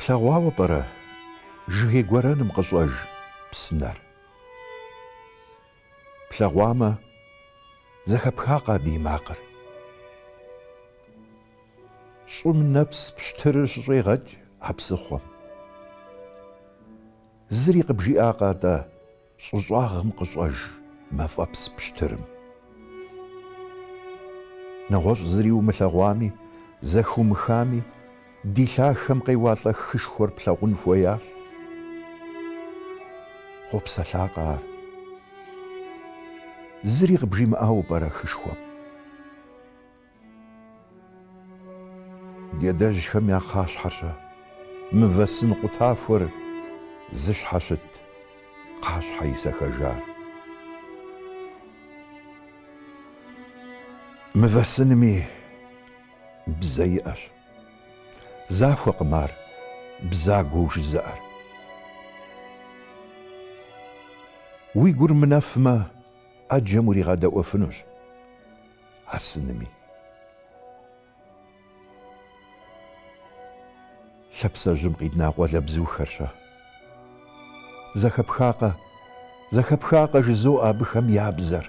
Плъэгъуауэ пӏэрэ, жыгей гуэрэным къыщӏэж псынэр? Плъэгъуамэ, зэхэпхакъэ абы и макъыр? Щӏым нэпс пщтырыр щыщӏегъэкӏ а псыхъуэм. Зыри къыбжиӏакъэ атӏэ щӏыщӏагъым къыщӏэж мафӏэпс пщтырым? Нэгъуэщӏ зыри умылъэгъуами, зэхыумыхами, Ди лъахэм къеуалӏэ хышхуэр плъагъун хуеящ. Къопсэлъакъэ ар? Зыри къыбжимыӏауэ пӏэрэ хышхуэм? Ди адэжьхэм я кхъащхьэр-щэ, мывэ сын къутахуэр зыщхьэщыт кхъащхьэ исэхэжар. Мывэ сынми. Бзэ иӏэщ. Захуэкъым ар бзагуэу жызыӏэр. Уи гур мынэфмэ, ӏэджэм уригъэдэӏуэфынущ а сынми. Лъапсэжьым къидна къуалэбзухэр-щэ? Зэхэпхакъэ, зэхэпхакъэ жызоӏэ абыхэм я бзэр.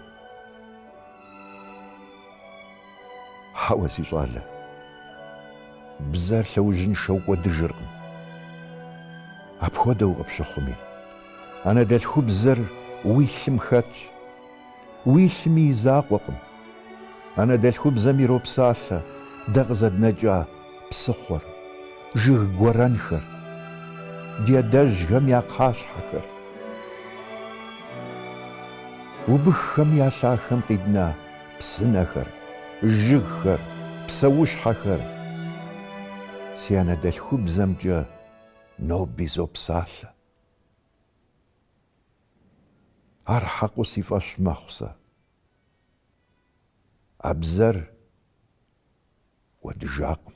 Хьэуэ, си щӏалэ, бзэр лъэужьыншэу кӏуэдыжыркъым. Апхуэдэу къыпщыхъуми, анэдэлъхубзэр уи лъым хэтщ. Уи лъыми и закъуэкъым. Анэдэлъхубзэм иропсалъэ дэ къызэднэкӏа псыхъуэр, жыг гуэрэнхэр, ди адэжьхэм я кхъащхьэхэр, убыххэм я лъахэм къидна псынэхэр, жыгхэр, псэущхьэхэр. Си анэдэлъхубзэмкӏэ ноби зопсалъэ. Ар хьэкъыу си фӏэщ мэхъу сэ. А бзэр кӏуэдыжакъым.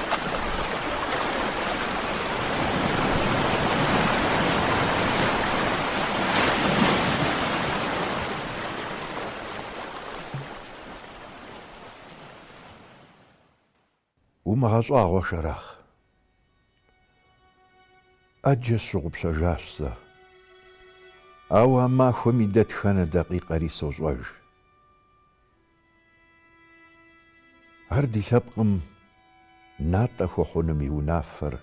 Умыгъэщӏагъуэ, Шэрахъ! ӏэджэ сщыгъупщэжащ сэ. Ауэ а махуэм и дэтхэнэ дакъикъэри сощӏэж. Ар ди лъэпкъым натӏэ хуэхъуным и унафэр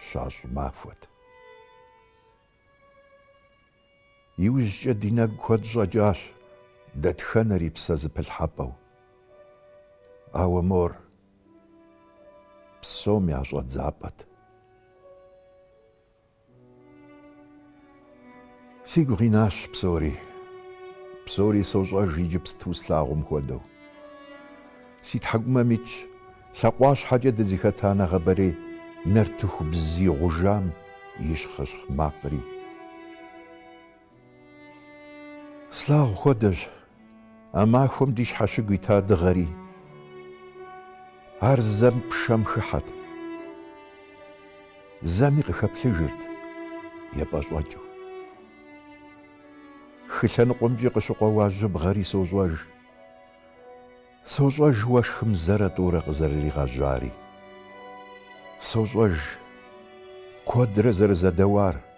щащӏ махуэт. Иужькӏэ ди нэгу куэд щӏэкӏащ дэтхэнэри псэзэпылъхьэпӏэу. Ауэ мор псом я щӏэдзапӏэт. Сигу къинащ псори. Псори сощӏэж иджыпсту слъагъум хуэдэу. Си тхьэкӏумэм итщ, лъакъуащхьэкӏэ дызыхэта нэгъабэрей нартыху бзий гъужам и щхъыщхъ макъри. Слъагъу хуэдэщ а махуэм ди щхьэщыгу ита дыгъэри. Ар зэм пшэм хыхьэт, зэми къыхэплъыжырт епӏэщӏэкӏыу. Хы лъэныкъуэмкӏи къыщыкъуэуа жьыбгъэри сощӏэж. Сощӏэж уэшхым зэрэ тӏурэ къызэрыригъэжьари. Сощӏэж куэдрэ зэрызэдэуар.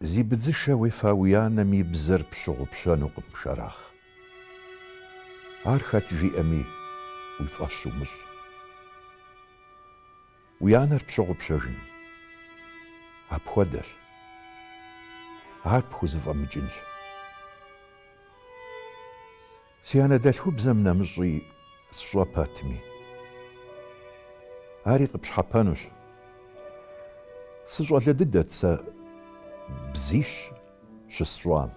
Зи быдзышэ уефа уи анэм и бзэр пщыгъупщэнукъым, Шэрахъ. Ар хэт жиӏэми, уи фӏэщ умыщӏ. Уи анэр пщыгъупщэжын апхуэдэщ. Ар пхузэфӏэмыкӏынщ. Си анэдэлъхубзэм нэмыщӏи сщӏэ пэтми, ари къыпщхьэпэнущ. Сыщӏалэ дыдэт сэ бзищ щысщӏам.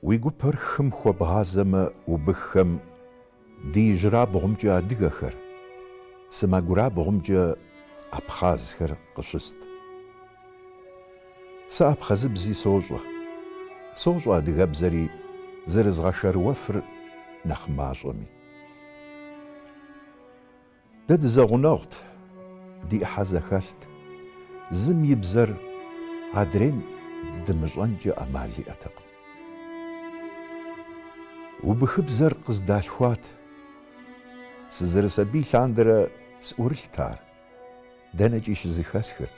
Уи гупэр хым хуэбгъазэмэ убыххэм ди ижьырабгъумкӏэ адыгэхэр, сэмэгурабгъумкӏэ абхъазхэр къыщыст. Сэ абхъазыбзи сощӏэ. Сощӏэ адыгэбзэри зэрызгъэшэрыуэфыр нэхъ мащӏэми. Дэ дызэгъунэгъут, ди ӏыхьэ зэхэлът, зым и бзэр адрейм дымыщӏэнкӏэ ӏэмал иӏэтэкъым. Убыхыбзэр къыздалъхуат. Сызэрысабий лъандэрэ сӏурылът ар. Дэнэкӏи щызыхэсхырт.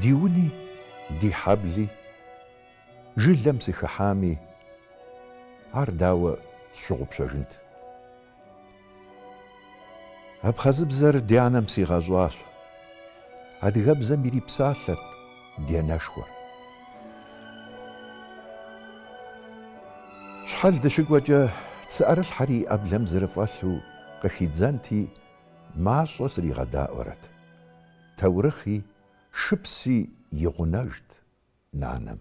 Ди уни, ди хьэбли, жылэм сыхыхьами, ар дауэ сщыгъупщэжынт? Абхъазыбзэр ди анэм сигъэщӏащ. Адыгэбзэм ирипсалъэрт ди анэшхуэр. Щхьэл дыщыкӏуэкӏэ, цыӏэрылъхьэри и ӏэблэм зэрыфӏэлъу къыхидзэнти, мащӏэ сригъэдаӏуэрэт. Таурыхъи, шыпси и гъунэжт нанэм.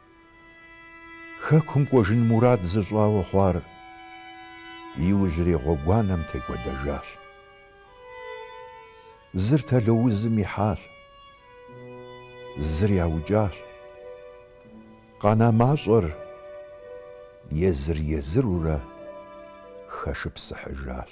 Хэкум кӏуэжын мурад зыщӏауэ хъуар иужьрей гъуэгуанэм текӏуэдэжащ. Зыр тэло узым ихьащ, зыр яукӏащ. Къэна мащӏэр езыр-езырурэ хэшыпсыхьыжащ.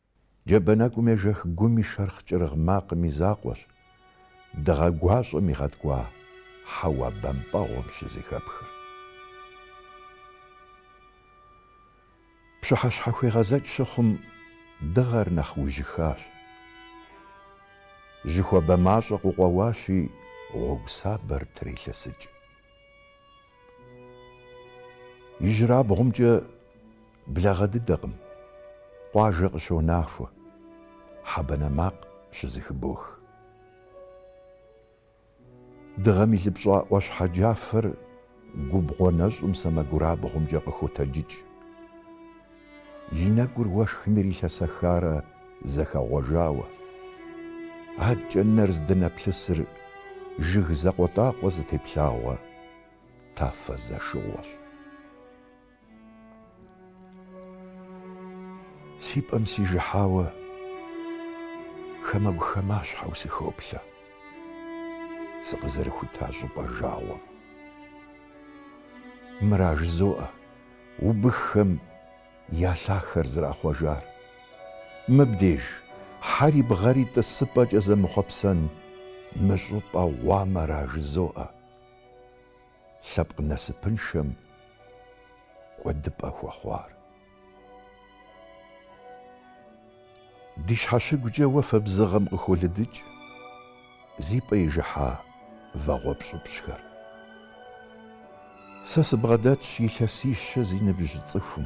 Джабэ нэкӏум ежэх гум и шэрхъ кӏырыгъ макъым и закъуэщ дыгъэ гуащӏэм игъэткӏуа хьэуа бампӏэгъуэм щызэхэпхыр. Пщыхьэщхьэхуегъэзэкӏ щыхъум, дыгъэр нэхъ ужьыхащ. Жьы хуабэ мащӏэ къыкъуэуащи, гъуэгу сабэр трелъэсыкӏ. Ижьырабгъумкӏэ благъэ дыдэкъым, къуажэ къыщонахуэ, хьэ банэ макъ щызэхыбох. Дыгъэм илыпщӏа ӏуащхьэ джафэр губгъуэ нэщӏым сэмэгурабгъумкӏэ къыхотэджыкӏ. И нэгур уэшхым ирилъэсэхарэ зэхэгъуэжауэ. Адкӏэ нэр здынэплъысыр жыг закъуэтӏакъуэ зытеплъагъуэ тафэ зэшыгъуэщ. Си пӏэм сижыхьауэ хамэгу-хамащхьэу сыхоплъэ сыкъызэрыхута щӏыпӏэ жагъуэм. Мыра жызоӏэ? убыххэм я лъахэр зэрахъуэжар. Мыбдеж хьэри бгъэри тӏысыпӏэкӏэ зэмыхъуэпсэн мы щӏыпӏэ гъуамэра жызоӏэ. Лъэпкъ насыпыншэм кӏуэдыпӏэ хуэхъуар. Ди щхьэщыгукӏэ уафэ бзыгъэм къыхолыдыкӏ зи пӏэ ижыхьа вагъуэ пщӏыпщӏхэр. Сэ сыбгъэдэтщ илъэсищэ зи ныбжь цӏыхум.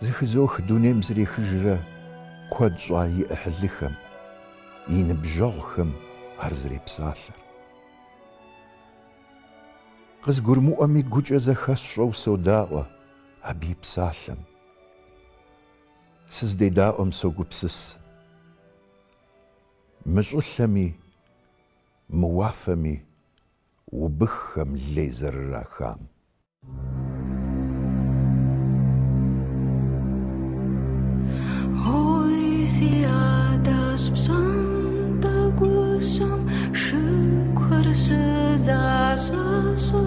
Зыхызох дунейм зэрехыжрэ куэд щӏа и ӏыхьлыхэм, и ныбжьэгъухэм ар зэрепсалъэр. Къызгурымыӏуэми гукӏэ зэхэсщӏэу содаӏуэ абы и псалъэм. Сыздедаӏуэм согупсыс. Мы щӏылъэми, мы уафэми убыххэм лей зэрырахам. Ой, си адэщ пщӏантӏэ гущэм шыгухэр щызэщӏащӏэ.